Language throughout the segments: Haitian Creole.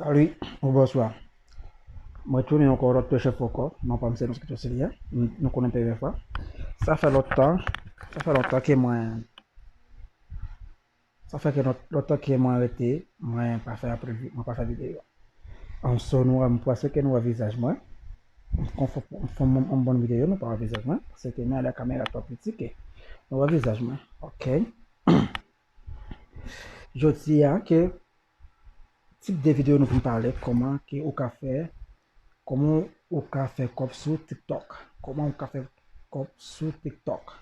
Salut ou bonswa mwen tounen ankò lòt pechè fòkò non pam se Moscato Sylvia nou konnen pevè fwa sa fè lòt tan sa fè lòt tan ke mwen sa fè ke lòt tan ke mwen rete mwen pa fè apre mwen pa fè video an so nou wè mwen pwase ke nou wè vizaj mwen kon fò fò mwen mwen bon video nou pa wè vizaj mwen se ke mwen alè kamera twò piti ke nou wè vizaj mwen ok jodi a ke Tip de video nou vin pale koman ke ou ka fè koman ou ka fè kob sou tiktok koman ou ka fè kob sou tiktok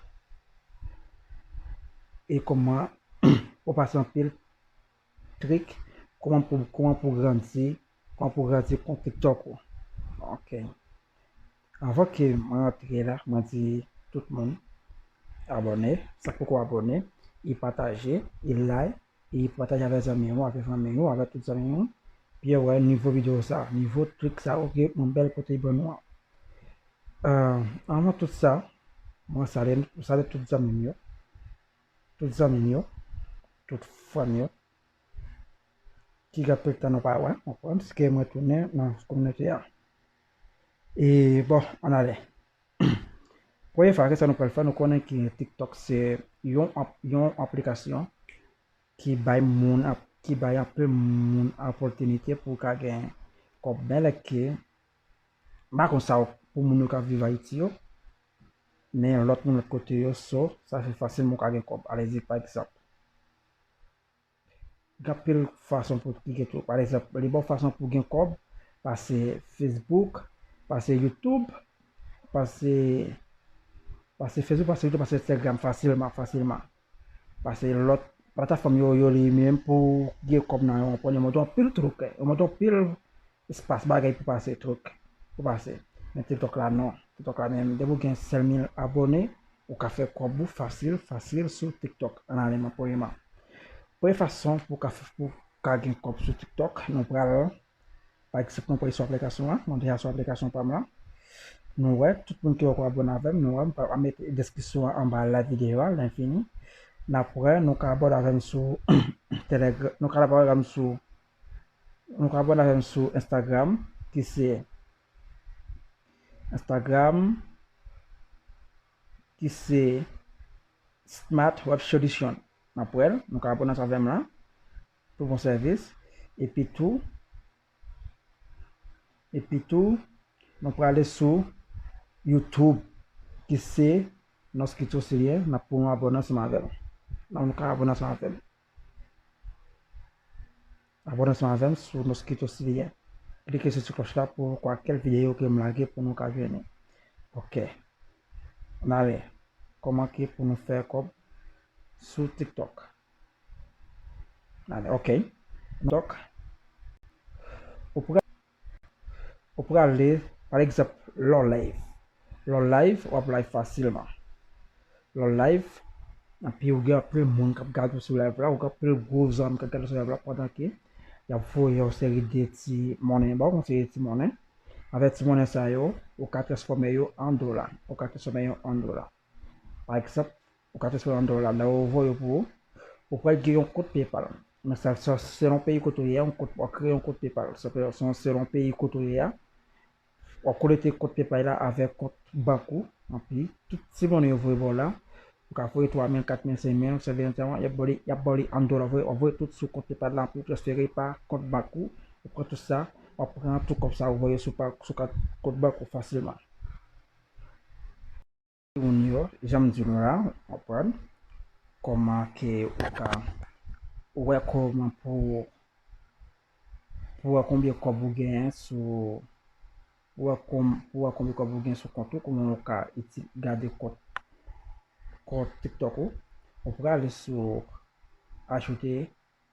e koman ou pase anpil trik koman pou koman pou grandi koman pou grandi kont tiktok ou ok avan ke mwen antre la mwen di tout moun abone sak poko abone e pataje e like E pataje avè zanmi ou avè fanmi ou avè tout zanmi ou Pierre wè nivo video sa nivo trik sa ok yon bèl kote ban nou an avan tout sa mwen salye nou mwen salye tout zanmi m yo tout zanmi m yo tout fanmi yo ki gen anpil tan nou pa wè ok pske mwen tounen nan kominote an e bon ann ale. Premye fwa kisa nou pral fè nou konnen ke tiktok se yon yon aplikasyon ki bay moun ki bay anpe moun opòtinite pou ka gen kòb men lè ke mpa konn sa pou moun yo kap viv ayiti yo men lòt moun lòt kote yo so sa se fasil moun ka gen kòb alezi pa egzanp Gen anpil fason pou ki gen tou. Pa egzanp, li ba w fason pou gen kòb pase Facebook, pase YouTube, pase pase Facebook, pase YouTube, pase Instagram fasilman, fasilman. Pase lòt platafòm yo yo li menm pou gen kòb nan yo. Ou konprann? Yo montre w anpil truk. Yo montre w anpil Espas bagay pou pase truc pou pase men tiktok la non tiktok la menm depi ou gen sèl mil abone ou ka fè kòb ou fasil fasil sou tiktok an ale nan premye man premye fason pou ka pou ka gen kòb sou tiktok nou pral pa ekzanp nou prale sou aplikasyon an mwen deja sou aplikasyon pam lan nou wè tout moun ki poko abone avèm nou wè m pa met deskripsyon an anba live videyo a lè fini nap wè nou ka abone avèm sou telegram nou ka abone avèm sou Nou ka abòne avèm sou Instagram ki se Instagram ki se Smart Web Solution Map wèl nou ka abòne avèm la pou bon sèvis epi tou epi tou nou prale sou YouTube ki se Noskito Seyè nap pou nou abòne ansanm avèm nan nou ka abòne ansanm avèm. Abone ansanm avèm sou Mosquito Syria. Klike sou ti kloch la pou kwa kel video ke m lage pou nou ka jwenn li. Ok. An ale. Koman ke pou nou fè kob sou TikTok. An ale. Ok. Tok. Ou prè? Ou prale, pa egzanp, lò live. Lò live, wap live fasilman. Lò live, epi ou gen anpil moun kap gade ou sou live la, ou gen anpil gwo zanmi kap gade ou sou live la pandan ke yap voye yon seri de ti monnen ba ou, yon seri de ti monnen. Avèk ti monnen sa yo, ou ka transfòme yo an dola. Ou ka transfòme yo an dola. Pa egzanp, Ou ka transfere an dola la ou voye pou ou. Ou pral gen yon kont PayPal. Men sa sa selon peyi kote ou ye a, yon kont wap kreye yon kont PayPal. Sa fè son selon peyi kote ou ye a, wap konekte kont PayPal la avèk kont bank ou. Anpi, tout ti monnen yo voye ba w la, ou ka voye 3 mil, 4 mil, 5 mil, sa vini sa, yap ba w li, yap ba w li an dola. Wap voye tout sou kont PayPal la, anpi ou transfere pa kont bank ou. Ou pran tout sa, wap pran tout kòb sa ou voye sou pa, sou kat kont bank ou fasilman. Moun yo, janm di nou la, ou konprann kòman ke ou ka wè kòman pou pou wè konbyen kòb ou genyen sou pou wè kon pou wè konbyen kòb ou genyen sou kont ou kòman ou ka iti gade kont kont tiktok ou ou prale sou ajoute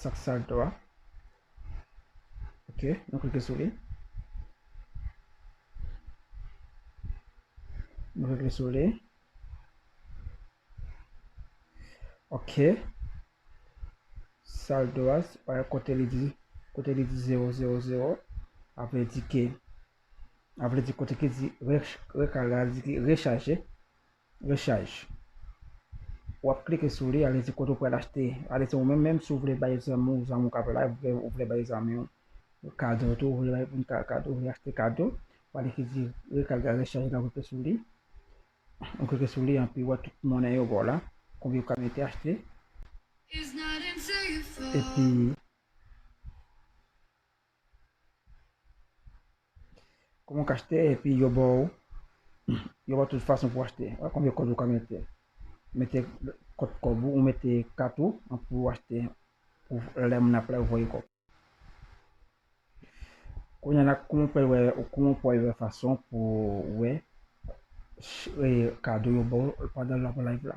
Sak sal to a. Ok, nou klike sou li. Nou klike sou li. Ok. Sal do a, pa yon kote li di, kote li di 0, 0, 0. Apre di ke, apre di kote ki di, rekal la di ki rechaje. Rechaj. Wap klike sou li, ale di kote ou pral achte, ale se ou menm menm si ou vle bay zanmi ou, zanmi ou ka vle la, ou vle bay zanmi ou kado tou, ou vle bay moun ka kado, ou vle achte kado, ou ale ki di rekal ga rechaj la ou klike sou li, ou klike sou li anpi wè tout monnen yo ba w la, konbyen ou ka mete achte, epi. Kòman w ka achte epi yo ba w yo ba w tout fason pou w achte. Wè konbyen kòb ou ka mete. Mete kòt kòb ou, ou mete kat ou an pou w achte pou lè moun ap la yo voye kòb. Kounye la kòman w pral wè, kòman w pral wè fason pou wè kado yo ba w pandan l ap live la.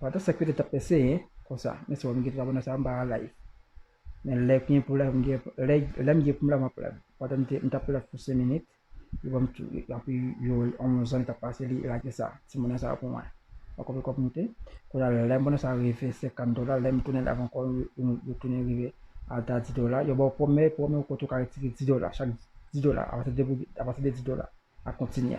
Wa ta sèk pete tap fè senyen konsa men sèm gen twa bò nan sa mpa al live men lè gen pou live mgen lèm gen poum live map live wa ta mta pou live pou 5 minit li banm tou api yo on zòn tap pase li lage sa ti monnen sa pou mwen ok wè kòm moute kounye a lè monnen sa rive 50 dola lèm tounen live ankò yo tounen rive ata 10 dola yo baw pwomè pwomè kote ou ka retire 10 dola chak 10 dola apati de 10 dola a kontinye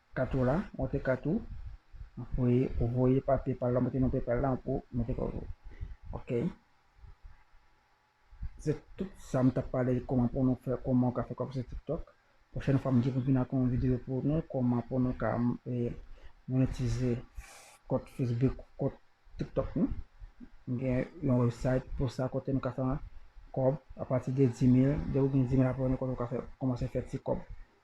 Kato la monte kato voye ou voye pa paypal la monte nan paypal la pou monte kòb ou ok se tout sa m tap pale kòman pou nou fè kòman ou ka fè kòb sou tiktok pwochèn fwa m gen pou m vin ak yon videyo pou nou kòman pou nou ka monetize kont facebook kont tiktok nou m gen yon website pou sa kote nou ka fè kòb apati de dimil depi w gen dimil abòne kote ou ka fè kòmanse fè ti kòb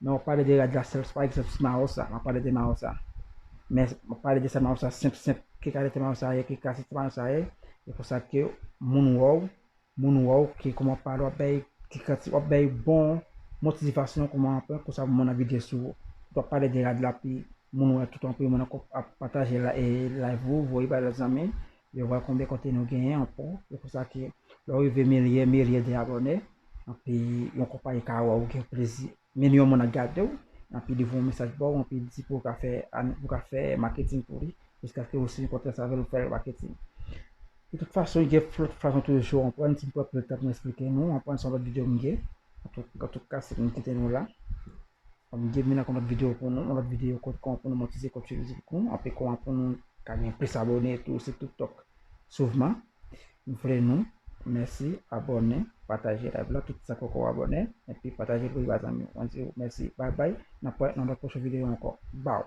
Non map pale de rad la sèl pa egzanp si mawo sa map pale de mawo sa men map pale de sa mawo sa senp senp ki kalite mawo sa ye ki kalite mawo sa ye e pou sa ke moun wè w moun wè w ki kòman wap pale wap bay ti kanti wap bay bon motivasyon kòman wap pran pou sa pou moun abitye sou ou pou wap pale de rad la pi moun wè tout anpil moun ap pataje live ou voye bay lòt zanmi Yo wè konbyen konte nou genyen ankò. Se pou sa ke lè w rive milye, milye de abòne, anpi yon konpayi ka wè ou gen plezi, milyon moun ap gade w, anpi li voye yon mesaj ba w, anpi li di pou w ka fè an, pou w ka fè maketing pou li, jiskaske ou siyen kontra sa avè l, ou fè l maketing. De tout fason, gen lòt fason toujou, w konprann, si m pran pil tan pou m esplike nou, w konprann se yon lòt videyo m gen, antouka se pou m kite nou la. Kòm depi nan yon lòt video pou nou, yon lòt video kont kòman pou nou monetize kont YouTube nou, ape kòman pou nou ka gen plis abòne tou sou TikTok souvman. M vle nou mèsi abòne, pataje live la tout sa poko abòne epi pataje pou rive a zanmiw. Mwen diw mèsi bye bye, nap wè nan yon lòt pwochen video ankò. Baww.